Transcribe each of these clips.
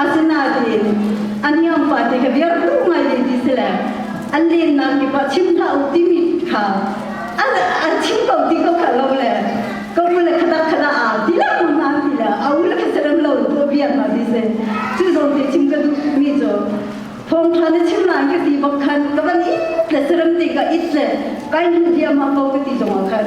Asinain a niam pa ti ka biar tu ngai ni ti si le an lennak kip ah chim hlah u timi kha an an chim ko ti ko kha lo le ko mu le khadak khadak a ti la ko na ti le a u le kha serem lo tu biar ma ti se chu zong ti chim ka duh mi jo thong tha ne chim lai ka ti bak khan ka ban it le serem ti ka it le kai nu dia ma ko ka ti zong khan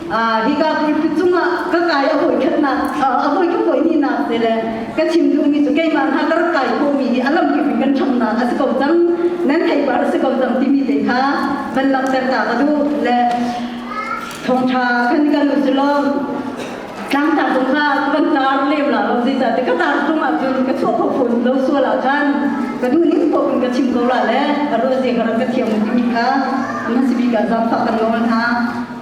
hika khuipi cungah ka kai a hawi khat nak a hawi ka hawi ni nak te le ka chim duhmi cu keimah hna ka rak kai komi hi a lam kip in kan ṭham nak a si ko cang nan theipar a si ko cang timi te kha van langhter ta ka duh le thawngṭha kan kan u si lo tlangtar tu kha van tar lem la lo zei cah te ka tar tung ah cun ka chuah pho phun lo sual ah khan ka du ning pop in ka chim ko la le a ro je ka rak ka thiam timi kha man si bi ka zam fa kan lo hna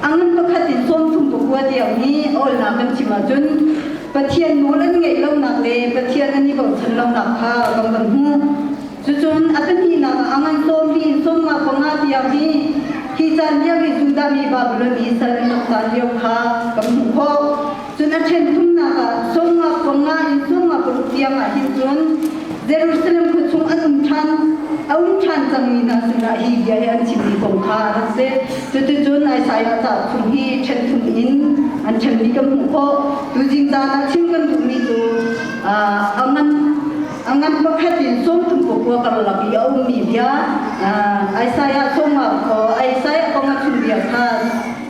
Ang lam pakhat in tawmthum pakua tiangmi awlnak kan chim ahcun Pathian nawl an ngaih lonak le Pathian an i bochan lonak kha kan kan hmuh. Cucun a pahnihnak ah a ngan cawmmi in cawmnak panga tiang hi hi caan lio i Judah mi Babilon i sal an rak caan lio kha kan hmuh khawh. Cun a ṭhen thumnak ah sawmnga panga in sawmnga paruk tiang ah hin cun Jerusalem khua chung an um ṭhan a um ṭhan cangmi hna sinah hi bia hi an chimmi kong kha rak si. Cuticun Isaiah ca thum hi ṭhen thum in an ṭhenmi kan hmuh khawh. Tuzing caan ah chim kan duhmi cu a ngan a ngan pakhat in sawmthum kua karlak i a ummi bia Isaiah sawmnga kong Isaiah kong a chimbiak kha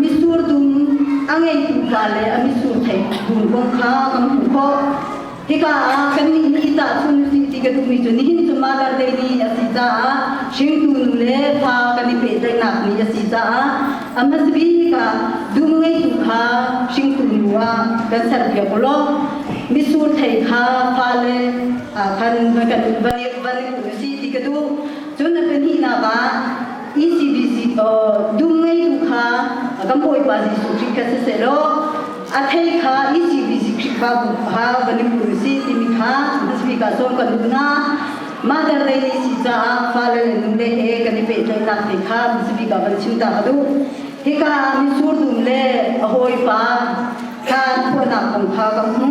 mitsur dum a ngeitu le a mitsur theih dum kong kha kan hmuh khawh. Hika ah kannih nih cah chun si ti ka duhmi cu nihin cu Mother Day ni a si caah hringtu nu le pa kan i pehtlaihnak ni a si caah a hmasa bik ah dum ngeitu kha hringtu nu ah kan serpiak u law misur thei kha fale ah khan va kan va ngiu si ti ka duh. Cun a pahnihnak ah ECBC to dum ngei tu kha kan bawipa Jesuh Khrih ka si se lo a thei kha ECBC Khrih ba bu ha valim ku si timi kha hmanmi ka som kan na mother lei ni si caah father le nu lei he kan i pehtlaihnak te kha hmanmi ka van chim ta ka du hika misur dum le a hawipa kha thuanak kong kha ka hmu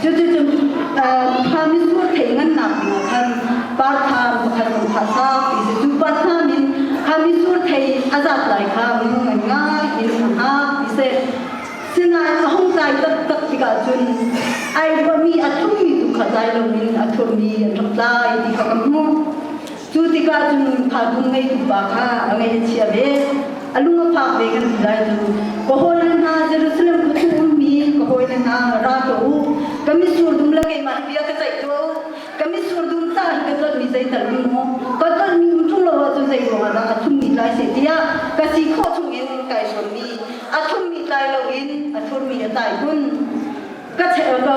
Cuticun Khamis khual thei ngannak hnu khan partham pakhat an thah hna i cu pa hna nih Khamis khual thei a zat lai kha minung ngan ngai in a hngak ti si. Sinain a hung tlai taktak tikah cun ai ruahmi a thummi tu kha zai loin a thuammi an rak tlai ti kha ka hmuh. Cu tikah cun phakung ngeitu pa kha a ngaih a chia ve. A lung a phak ve kan ti lai cu. Ka hawile hna, Jerusalem khua chung ummi ka hawile hna, ra tuah u. Ka mitsur dum le keimah bia ka ceih tuah u. Ka mitsur dum ca hi ka tlolhmi zei tal ning maw, ka tlolhmi um ṭung lo ahcun zei ruangah dah a thlummi tlai seh tiah ka si khawh chungin kai sawmmi, a thlummi tlai loin a thlurmi a tlai kun. ka che ka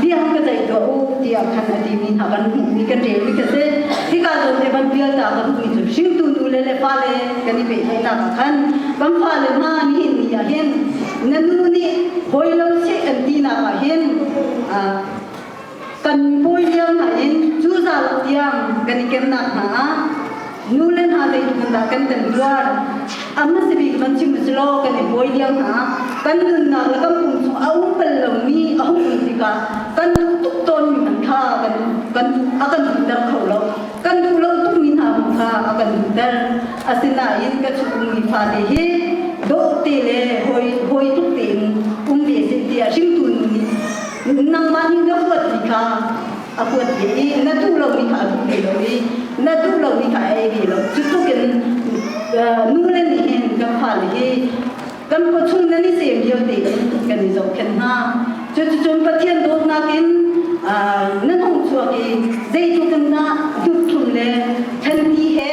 bia ka tei tuah u tiah khan a ti mi hna kan hmuh mi kan rel mi ka se hi ka lo te ban pial ta kan hui cu hring tu nu le le fa le kan i pehtlaih nak ah khan kan fa le ma ni ni ah hin na nu nih hoi lo se kan ti nak ah hin kan mui liang hna in cu zalam tiang kan i kemnak hna ah nu le hna lei hmun dah kan kan tuar amma si bik man chim si lo kan i buai liang hna kan nunnak le kan pung a um bal lomi a hung um tika kan duh tuk tawn mi man kha kan kan a kan ter kho lo kan duh lo tuk mi hna hung kha a kan ter asinain ka chungmi fa te hi do te le hoi hoi tuk te in um ve sin tia hringtu nu nih nangmah nih na huat mi kha a huat ve i na duh lomi kha a duh ve lo i na duh lomi kha a ei ve lo cutluk in nu le nih hin kan fale hi kan khuachung nan i tem vialte in kan i zohkhenh hna cuticun Pathian dawtnak in nan hung chuak i zeitluk in dah duhthum le thanti he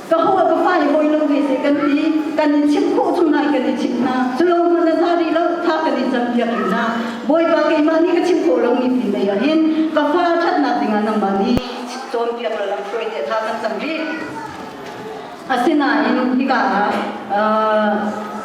ka hawa ka fa i hawilam ve se kan ti kan in chim khawh cu nai kan i chim hna cu lo hman na za rih lo tha kan in cam piak rih na bawipa keimah nih ka chim khawh lo mi ti lei ah hin ka fa thatnak dingah nangmah nih cawn piak la lam hruai te tha kan tam rih asinain hika ah uh,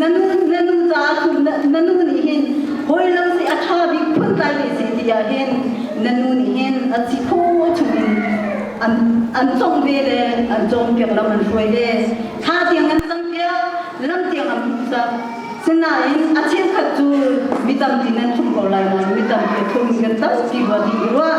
na nu na nu caah na nu nih hin hawi lo si a ṭha bik phun kai ve si ti ah hin na nu nih hin a si pho chungin an an cong ve le an cawm piak lam an hruai ve thla tiang an cang piak lam tiang an phuta sinain a chenkhat cu mi tamtin an thum ko lai nain mi tampi thum kan tampi ruah ti ruah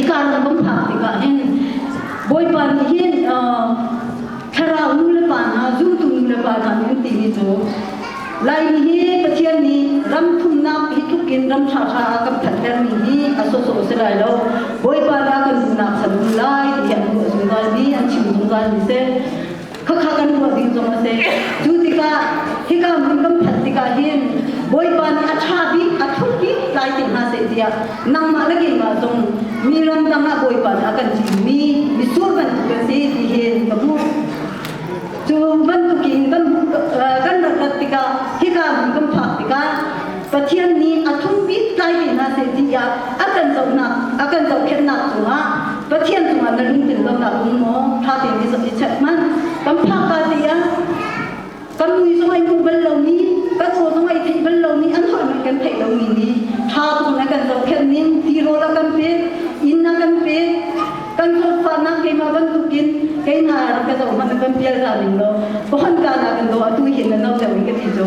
Ika na bum phak tikah hin Bawipa nih hin thlarau nu le pa hna zultu nu le pa hna nih timi cu Laimi hi Pathian nih ram thumnak hi tluk in ram ṭha ṭha a kan thathermi hi a sawsawh si lai lo Bawipa la kan duhnak chan um lai tihi an ruah zungzal mi an chim zungzal mi si khakha kan tuah ding zong a si. Cu tikah hika hmun kan phanh tikah hin Bawipa nih a ṭha bik, a thuk bik tlai te hna seh tiah nangmah le keimah zong mi ramdang ah Bawipa nih a kan cimmi misur bantuk a si ti hin ka hmuh. Cu bantukin kan, kan rat rat tikah hika hmun kan phak tikah Pathian nih a thung bik tlaimi hna seh tiah a kan zohnak a kan zohkhenhnak cungah Pathian cungah na lungtin lonak um maw? Ṭha tein i zoh i check hmanh. Kan phakka te ah kan mui zong ai hmu bal lomi, kan aw zong ai theih bal lomi, an holhmi kan theih lomi nih ṭha tein a kan zohkhenh ning, tirawl a kan pek, inn a kan pek, kan hlawtfahnak keimah bantukin kei hna ka zoh hmanh a kan pial hna ning law, ka hon kaan ah kan daw atu hin na no deuh in ka ti cu.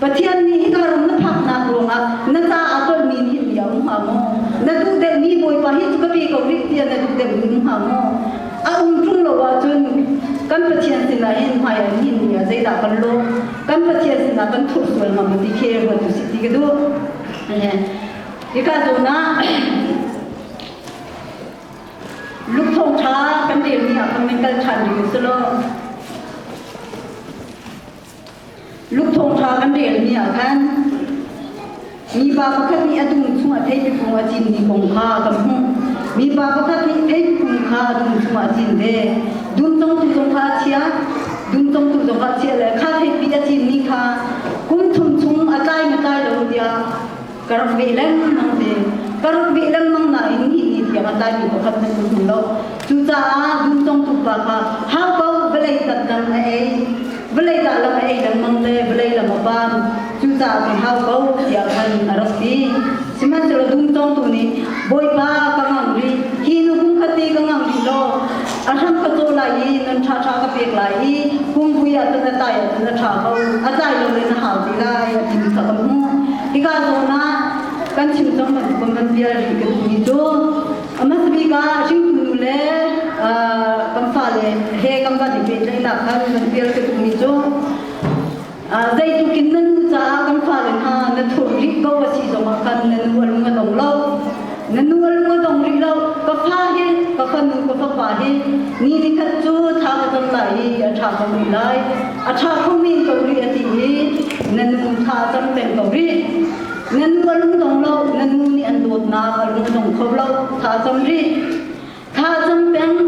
Pathian nih hika ram na phaknak ruangah na ca aa tonmi hi bia um hnga maw? Na duhdemhmi Bawipa hi cu ka pe ko rih tiah na duhdemh ning hnga maw? A um ṭung lo ahcun kan Pathian sinah hin hmaiah hin bia zeidah kan lawh? Kan Pathian sinah kan thurh sual hnga maw ti khi ruat usih ti ka duh. Hika zawn ah Luke thawngṭha kan relmi ah khan kan kal ṭhan ding a si lo. Lukthawng ṭha kan rel ni ah khan mipa pakhat nih a dum chungah theipifung a cinmi kong kha kan hmuh. Mipa pakhat nih theipifung kha a dum chungah a cin ve. Dum congtu zong kha a chia, dum congtu zong kha a chia le kha theipi a cinmi kha kum thum chung a tlai matlai lo tiah Kar ve lengmang ve. Kar ve lengmang nain hi ni tiang a tlai mi pakhat nan hmu lo. Cucaah dum tong tuk rak ah hangpo vawlei tat lam a ei. Vawlei dah lam a ei lengmang te vawlei lam a pan. Cucaah ke hangpo tiang khan a rak si. Sihmanhsehlaw dum tong tu nih Bawipa ka ngam rih. Hi nu kum kati ka ngam rih lo. A hram ka caw lai i nan ṭhaṭha ka pek lai i kum vui ah cun na tlai ah cun na ṭha ko a tlai lo in a hau ti lai a ti kha ka hmuh. Hika zawn ah kan chim cang bantukan kan bia rih ka timi cu a mas bik ah hringkunu le kan fale he kan van i pehtlaihnak khan kan pial ka timi cu zeitluk in nan nu caah kan fale hna na thur rih ko a si zongah khan na nu a lung a dong lo na nu a lung a dong rih lo ka fa hi ka fanu ka fapa hi ni ni khat cu tha ka cam lai i a tha ka rih lai a tha kho men ko rih a ti i na nu tha cam peng ko rih na nu a lung dong lo na nu nih an dawtnak a lung dong kho lo tha cam rih Tha cam peng,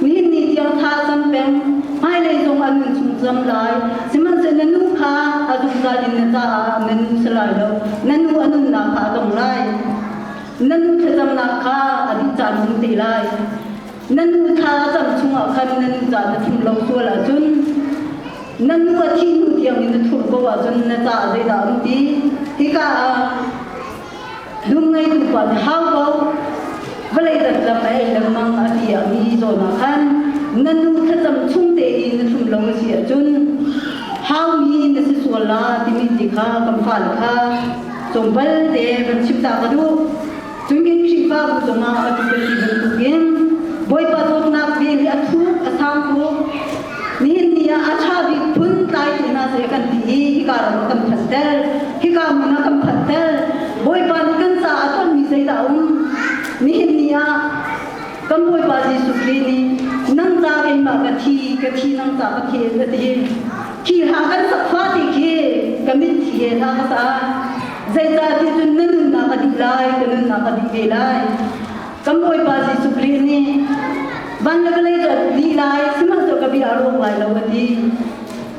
nihin ni tiang tha cam peng, hmailei zong a nun chung cam lai. Sihmanhsehlaw nu kha a zungzal in na caah na nu si lai lo, na nu a nunnak kha a dong lai. Na nu thlacamnak kha a dih caan um te lai. Na nu tha a cam chungah khan na nu ca na thim lo sual ahcun, na nu a thih hnu tiang in na thur ko ahcun na caah zeidah a um ti? Hika ah Lungngeitu pa nih hau ko vawlei lam a ei lengmang a ti a mi zawn ah khan na nu thlacam chung tein na thlum lo a si ahcun haumi na si sual la timi ti kha kan fale kha tlawmpal te van chim ta ka duh cun kan Khrihfa bu cungah a tu kan ti bantukin Bawipa dawtnak vel hi a thuk a sang tuk Nihin a tha bik phun tlai tuna zei kan ti i hika ram kan phat tel hika mun kan phat tel Bawipa nih kan ca a tonmi zeidah a um nihin ni ah kan Bawipa Jesuh Khrih nih nang ca in ma ka thi ka thi nang ca ka thi a ti khi ha kan sakfa ti khi ka mit thi he hla ka sa zeicah ti cun na nunnak a dih lai ka nunnak a dih ve lai Kan Bawipa Jesuh Khrih nih van le vawlei dawt dih lai, sihmanhsehlaw ka bia a rawk lai lo, a ti.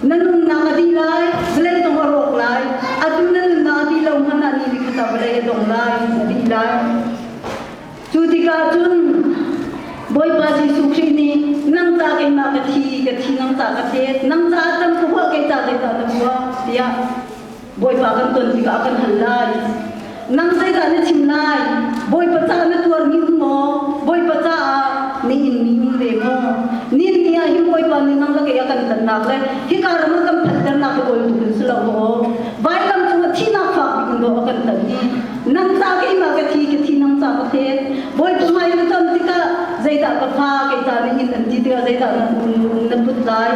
Na nunnak a dih lai, vawlei zong a rawk lai. Atu na nunnak a dih lo hmanh ah ni ni khat ah vawlei a dong lai, a dih lai. Cu tikah cun Bawipa Jesuh Khrih nih nang ca keimah ka thi, ka thi nang ca ka tet, nang caah can ka huah, kei ca zeicah ka tuah, tiah Bawipa kan ton tikah kan hal lai. Nang zeidah na chim lai? Bawipa caah na tuar min maw? Bawipa caah na inmi min ve maw? Nin ni ah hin Bawipa nih nang lake a kan tannak le hika ram a kan phanhternak hi ol tuk in si lo maw? Vailam cungah thihnak fak in dawh a kan tan i nang ca keimah ka thi ka thi nang ca ka fet. Bawipa hmai na ton tikah zeidah ka fa kei ca na in an ti tikah zeidah na um na put lai?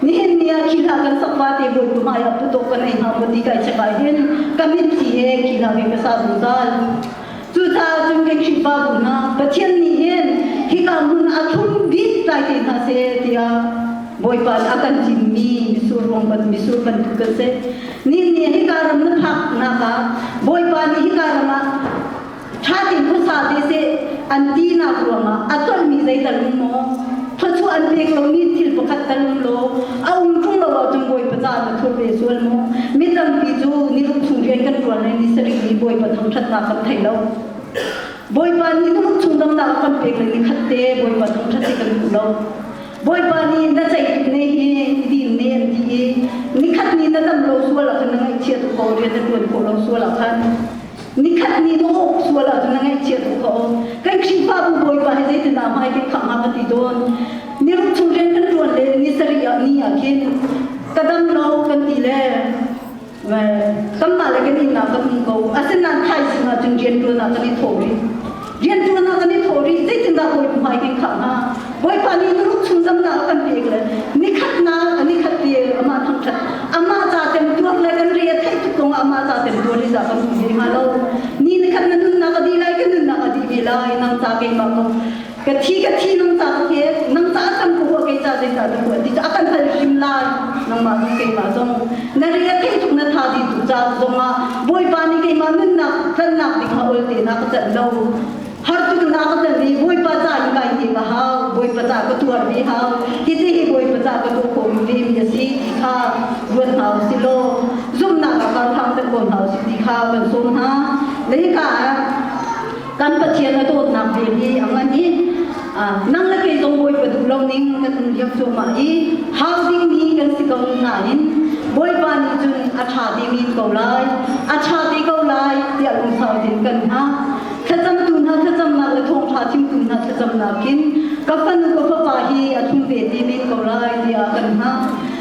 nihin ni ah khi hla kan sak va te bu kum ai apu to kan ei ma bu ti kai chekai hin ka min thi he khi hla vi pesa zuzal cu ta chung ke khin pa bu na pathian ni hin hi ka mun athum bi tai te na se tia boipa akan jim mi misur rong ban misur kan tu ka se ni ni hi karam na phak na ka boipa ni hi karam ṭha ti hmasa te seh an tinak ruangah a tolmi zeital um maw thluachuah an pek lomi thil pakhat tal um law a um ṭung lo ahcun bawipa ca na thur ve sual maw mi tampi cu niruk chung rian kan ṭuan rih ni sarih nih bawipa thangṭhatnak kan thei lo bawipa nih niruk chung damnak kan pek le ni khat te bawipa thangṭhat hi kan duh lo bawipa nih na ceitu ne hi din ne an ti i nikhat ni na dam lo sual ah khan na ngaihchia tuk ko rian na ṭuan khawh lo sual ah khan Nikhat ni dawh sual ahcun na ngaihchia tuk ko. Kan Khrihfabu Bawipa hi zeitindah hmai te khangah a ti tawn? Ni ruk chung rian kan ṭuan le ni sarih ah ni ah khin ka dam lo kan ti le kanmah le kan innak kan um ko. Asinain thaizing ahcun rian ṭuan ah kan i thawk rih. riantuan ah kan i thawh rih zeitindah hawi hmai kan khah hnga bawipa nih Turuk chung zamta a kan pek le nikhatnak a nikhat te amah thangthat amah ca temtuar le kan re a theih tuk kong amah ca temtuar i za kan hmu hlei hnga lo ni nikhat na nunnak a di lai ka nunnak a di ve lai nang ta keimah ko ka thi ka thi nang ta ke nang ta kan ko ke ta zai ta ku ti a kan hal him lai nangmah keimah zong Na rian kei tuk na tha dihtu caan zongah Bawipa nih keimah nunnak tlannak ding kha ol te na ka cat lo. Hartu na ka cat i Bawipa ca in kai him a hau. Bawipa ca ka tuar mi hau. Hiti hi Bawipa ca ka tuah khawm mi mi a si ti kha ruat hna u si law zumhnak a kar hang set ko hna u si ti kha kan sawm hna. Na hika ah kan Pathian a dawtnak ve hi a ngan i nang le kei zong bawi pa duh lo ning kan um diam cuahmah i hau dingmi kan si ko nain Bawipa nih cun a ṭha ding in ko lai a ṭha te ko lai tiah lungsau in kan hngah thlacamtu hna thlacamnak le thawngṭha chimtu hna thlacamnak in ka fanu ka fapa hi a ṭhu ve ti men ko lai tiah kan hngah